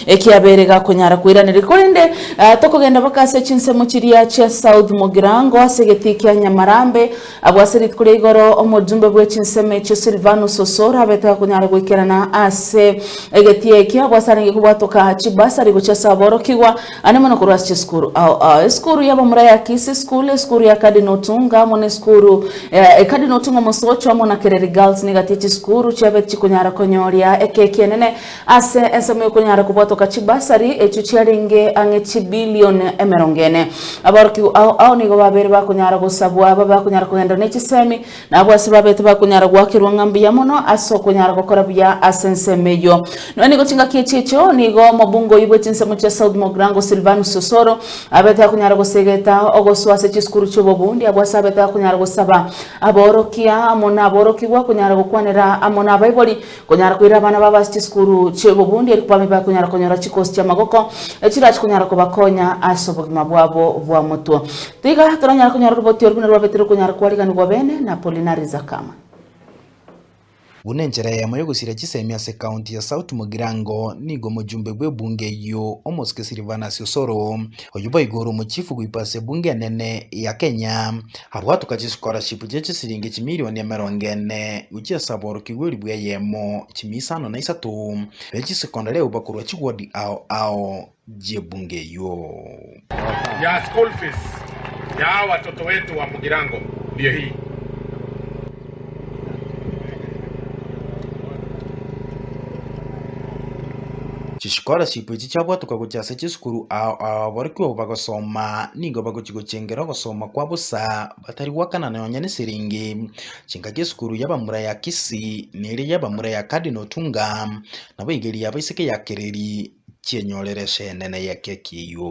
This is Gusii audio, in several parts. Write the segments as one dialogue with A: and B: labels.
A: Ekiabeire gakonyara koiraneria korende tokogenda mpaka ase chinsemo chiria chia South Mugirango ase egetii kia Nyamarambe. Abwo ase rituko ria igoro omojumbe bwe chinsemo echio Silvanus Osoro abete gakonyara goikerana ase egetii ekio abwo ase arenge kobwatoka chibasari gochia ase aborokigwa ande mono korwa ase chisukuru ao esukuru ya bamura ya Kisii School, esukuru ya Cardinal Otunga amo nesukuru ya Cardinal Otunga Mosocho amo na Kereri Girls niga tia chisukuru chiabete chikonyara konyoria ekeki enene Ase ensemo y'okonyara kobwatoka chibasari echio chiarenge ang'e chibilion emerongo ene. Aborokigwa ao ao nigo babeire bakonyara gosabwa babe bakonyara kogenda ne chisemi, na abwo ase babete bakonyara goakerwa ng'a mbuya mono ase okonyara gokora buya ase ensemo eyio. Nonya nigo chingaki echi echio nigo omobungoi bwe chinsemo chia South Mogrango Silvanus Osoro abete akonyara gosegeta ogosoa ase chisukuru chi'obobundi abwo ase abete akonyara gosaba aborokia amo naborokigwa konyara gokwanera amo nabaibori Konyara koira abana babo ase chisukuru chi'obobundi eri kwabaibe bakonyara konyora chikosi chi'amagoko echirachi konyara kobakonya ase obogima bwabo bwa motwe. Tiga toranyare konyora oroboti oro buna rwabeterwe konyara kwariganigwa bene na Apolinari Zakama. Buna
B: enchera eyemo y'ogosiria chisemi ase County ya South Mugirango nigo omojumbe bw'ebunge eyio omosike Silvanus Osoro, oyio boigo ore omochifu goikwa ase ebunge enene ya Kenya, Abwo tokachikora chipu chie chisiringi chimilioni emerongo ene gochia ase aborokigwa elifu eyemo, chimia isano na isato, ne chisekonda reuba korwa chigodi ao ao chi'ebungo eyio. ya
C: school fees ya watoto wetu wa mugirango ndiyo hii.
B: Chischolarship echi chiabwatoka gochia ase chisukuru ao ababorokigwa obo bagosoma nigo bagochia gochengera ogosoma kwa bosa batari goakana nonya neseriingi. Chingaki esukuru ya bamura ya Kisii na eria ya bamura ya Cardinal Otunga nabo egeria yabo isiko ya kereri chienyorere esenene y'ekio ekiiywo.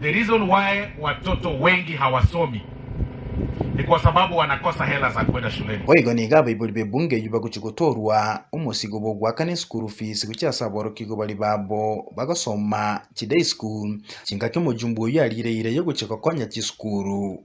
C: The reason why watoto wengi hawasomi ni kwa sababu wanakosa hela za kwenda shuleni. Boigo nigo abaibori
B: b'ebunge eyio bagochia gotoorwa omosigo bw'ogoakana eschool fees gochia ase aborokigwa baria babo bagosoma chiday school, chingaki omojumbe oyio ariire ira y'ogochia gokonya chisukuru.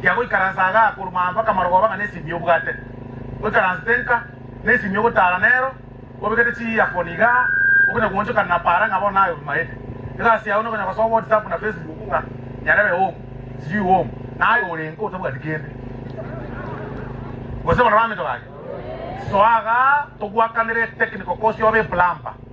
B: Kia goikaransa
C: agaa korwa aa mpaka marogoba ng'a nesimi y'obwate, oikaransete nka, nesimi y'ogotaara nero, obekete chiearphone igaa, okonya goonchokana na paara ng'a bono naye obimaete. Egasi yao nokonya gosoa whatsapp na facebook ng'a nyarebe home, sijui home, naye ore nka otabwati kende. Gose bono baminto baria, soa agaa togwakanere technical course obe plumber.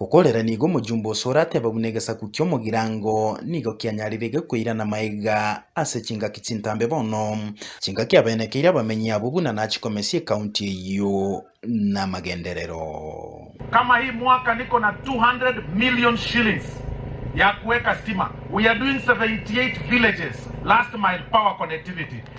C: Okorera nigo
B: omojumba oso orateba buna egesaku ki'omogirango nigo kianyarire gekoirana maega ase chingaki chintambe bono, chingaki abenekeire abamenyi abo buna nachikomesia ekaunti eyio namagenderero.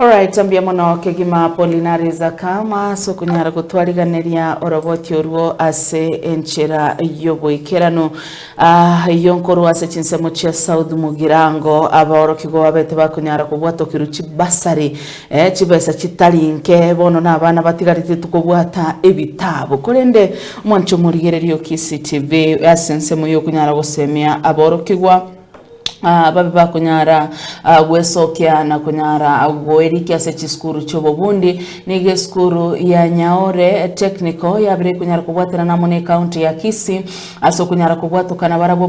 A: Alright, mbuya mono kegima Apolinari Zakama ase okonyara gotwariganeria oroboti orwo ase enchera y'oboikeranu. Ah, iyo nkorwa ase chinsemo chia South Mugirango, abaorokigwa babete bakonyara kobwatokirwa chibasari, eh, chibesa chitari nke, bono na abana batigarete tokobwata ebitabu. Korende mwancha omorigereria o Kisii TV ase ensemo y'okonyara gosemia aborokigwa, babe bakonyara gwesokia na konyara goirikia ase chisukuru chi'obobundi. Nigo esukuru ya Nyaore Technical yabire ekonyara kobwaterana amo n'ecounty ya Kisii ase okonyara kobwatokana barabwo